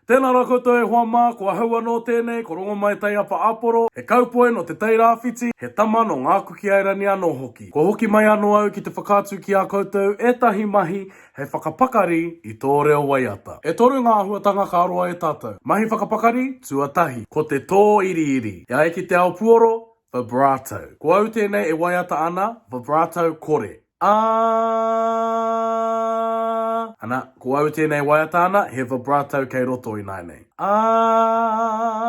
Tēnā rā koutou e hoa mā, ko ahau anō tēnei, ko Rongomai Taiapa Aporo, he kaupoi nō Te Tai Rāwhiti, he tama nō Ngāku ki Airani anō hoki. Kua hoki mai anō au ki te whakaatu ki a koutou ētahi mahi hei whakapakari i tō reo waiata. E toru ngā āhuatanga ka roa e tātou. Mahi whakapakari, tuatahi, ko te tō iriiri. E ai ki te ao puoro, vibrato. Ko au tēnei e waiata ana, vibrato kore. Aah. Ana, ko au tēnei waiata ana, he vibrato kei roto ināinei. Aah.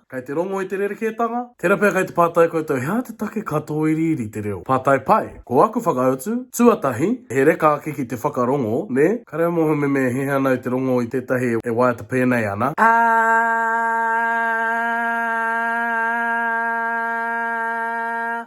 Kei te rongo i te rerekētanga? Tērā pea kei te pātai koutou, he aha te take ka tōiriiri te reo? Pātai pai. Ko aku whakautu, tuatahi, he reka ake ki te whakarongo, nē? Ka reo mōhememe e hiahia ana i te rongo i tētahi e waiata pēnei ana. Aah.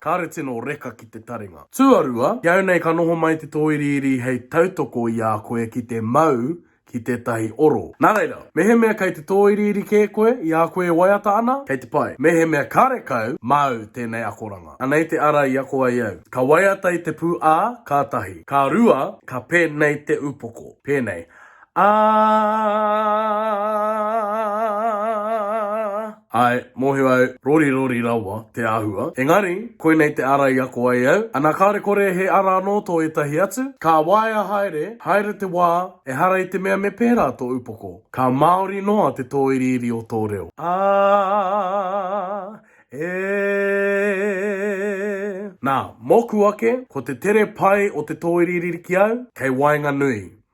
Kāre tino. reka ki te taringa. Tuarua, ki au nei ka noho mai te tōiriiri hei tautoko i a koe ki te mau ki tētahi oro. Nā reira, mehemea kei te tōiriiri kē koe i a koe e waiata ana, kei te pai. Mehemea karekau, māu tēnei akoranga. Anei te ara i ako ai au. Ka waiata i te pū ā, kātahi. Ka rua, ka pēnei te upoko. Pēnei. Ā! Āe, mōhio au, rorirori rawa te āhua. Engari, koinei te ara i ako ai au. Ana kāore kore he ara anō tō ētahi atu? Ka waea haere, haere te wā, ehara i te mea me pērā tō upoko. Ka māori noa te tōiriiri o tō reo. Ā! E! Nā, mōku ake, ko te tere pai o te tōiriiri ki au, kei waenganui.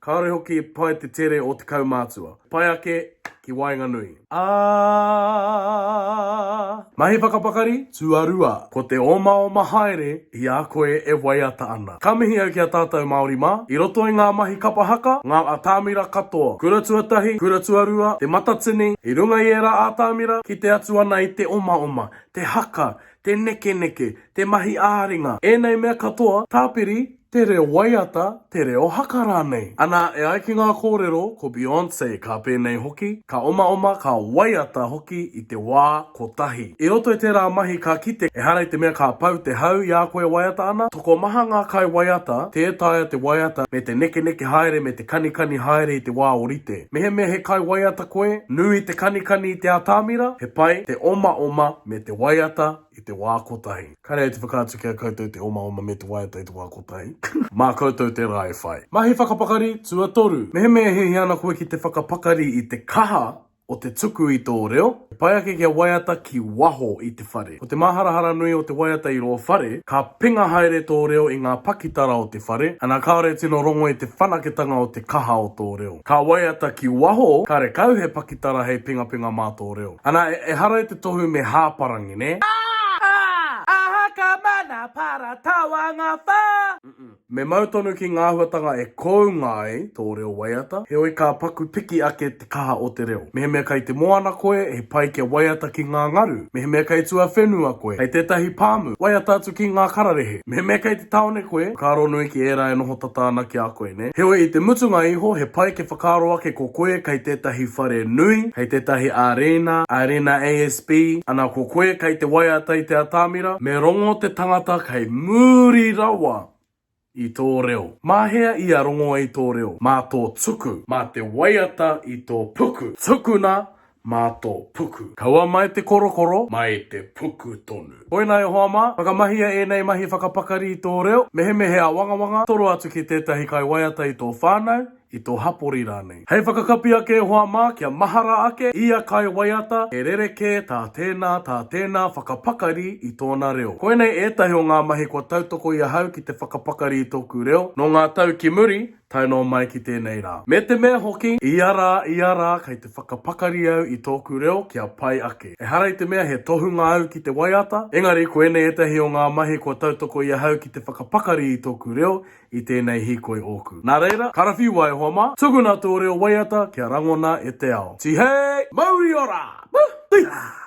Kāore hoki e pai te tere o te kaumātua. Pai ake ki waenganui. Aaaaaa! Mahi whakapakari, tuarua, ko te omaoma haere i a koe e waiata ana. Ka mihi au ki a tātou Māori mā, i roto i ngā mahi kapa haka, ngā atamira katoa, kura tuatahi, kura tuarua, te matatini, i runga i ērā atamira, kite atu ana i te omaoma, te haka, te nekeneke, te mahi ā-ringa, ēnei mea katoa, tāpiri, te reo waiata, te reo haka rānei. Anā, e ai ki ngā kōrero, ko Beyonce ka pēnei hoki, ka omaoma, ka waiata hoki i te wā kotahi. I roto i tērā mahi ka kite, ehara i te mea ka pau te hau i a koe e waiata ana, tokomaha ngā kaiwaiata, tē taea te waiata me te nekeneke haere me te kanikani haere i te wā orite. Mehemea he kaiwaiata koe, nui te kanikani i te atamira, he pai te omaoma me te waiata, i te wā kotahi. Kāre ai te whakaatu ki a koutou te omaoma me te waiata i te wā kotahi. Mā koutou tērā e whai. Mahi whakapakari tuatoru. Mehemea e hiahia ana koe ki te whakapakari i te kaha o te tuku i tō reo, he pai ake kia waiata ki waho i te whare. Ko te māharahara nui o te waiata i rō whare, ka penga haere tō reo i ngā pakitara o te whare, ana kāore e tino rongo i te whanaketanga o te kaha o tō reo. Ka waiata ki waho, ka rekau he pakitara hei pengapenga mā tō reo. Ana, ehara i te tohu me hāparangi, nē? Aa! Aa! Aha ka mana para tawanga wha? Me mau tonu ki ngā āhuatanga e kounga ai tō reo waiata, heoi ka paku piki ake te kaha o te reo. Mehemea kei te moana koe, he pai kia waiata ki ngā ngaru. Mehemea kei tuawhenua koe, hei tētahi pāmu, waiata atu ki ngā kararehe. Mehemea kei te tāone koe, whakaaro nui ki ērā e noho tata ana ki a koe. nē? Heoi, i te mutunga iho, he pai kia whakaaro ake ko koe kei tētahi whare nui, kei tētahi ārēna, ārēna ASB, ana ko koe kei te waiata i te atamira, me rongo te tangata kei muri rawa i tō reo. Mā hea ia rongoa i tō reo? Mā tō tuku. Mā te waiata i tō puku. Tukuna, mā tō puku. Kaua mai te korokoro, mai te puku tonu. Koinā Ihowa mā, whakamahia ēnei mahi whakapakari i tō reo, mehemea he āwangawanga, toro atu ki tētahi kaiwaiata i tō whānau, i tō hapori rānei. Hei whakakapi ake Ihowa mā, kia mahara ake ia kaiwaiata he rerekē tā tēnā, tā tēnā whakapakari i tōna reo. Koinei ētahi o ngā mahi kua tautoko i ahau ki te whakapakari i tōku reo, nō ngā tau ki muri, tae noa mai ki tēnei rā. Me te mea hoki, ia rā, ia rā, kei te whakapakari au i tōku reo kia pai ake. Ehara i te mea he tohunga au ki te waiata, engari koinei ētahi o ngā mahi kua tautoko i ahau ki te whakapakari i tōku reo i tēnei hīkoi ōku. Nā reira, karawhiu ai hoa mā, tukuna tō reo waiata kia rangona e te ao. Tihei! Mauri ora! Woohoo! Tihah!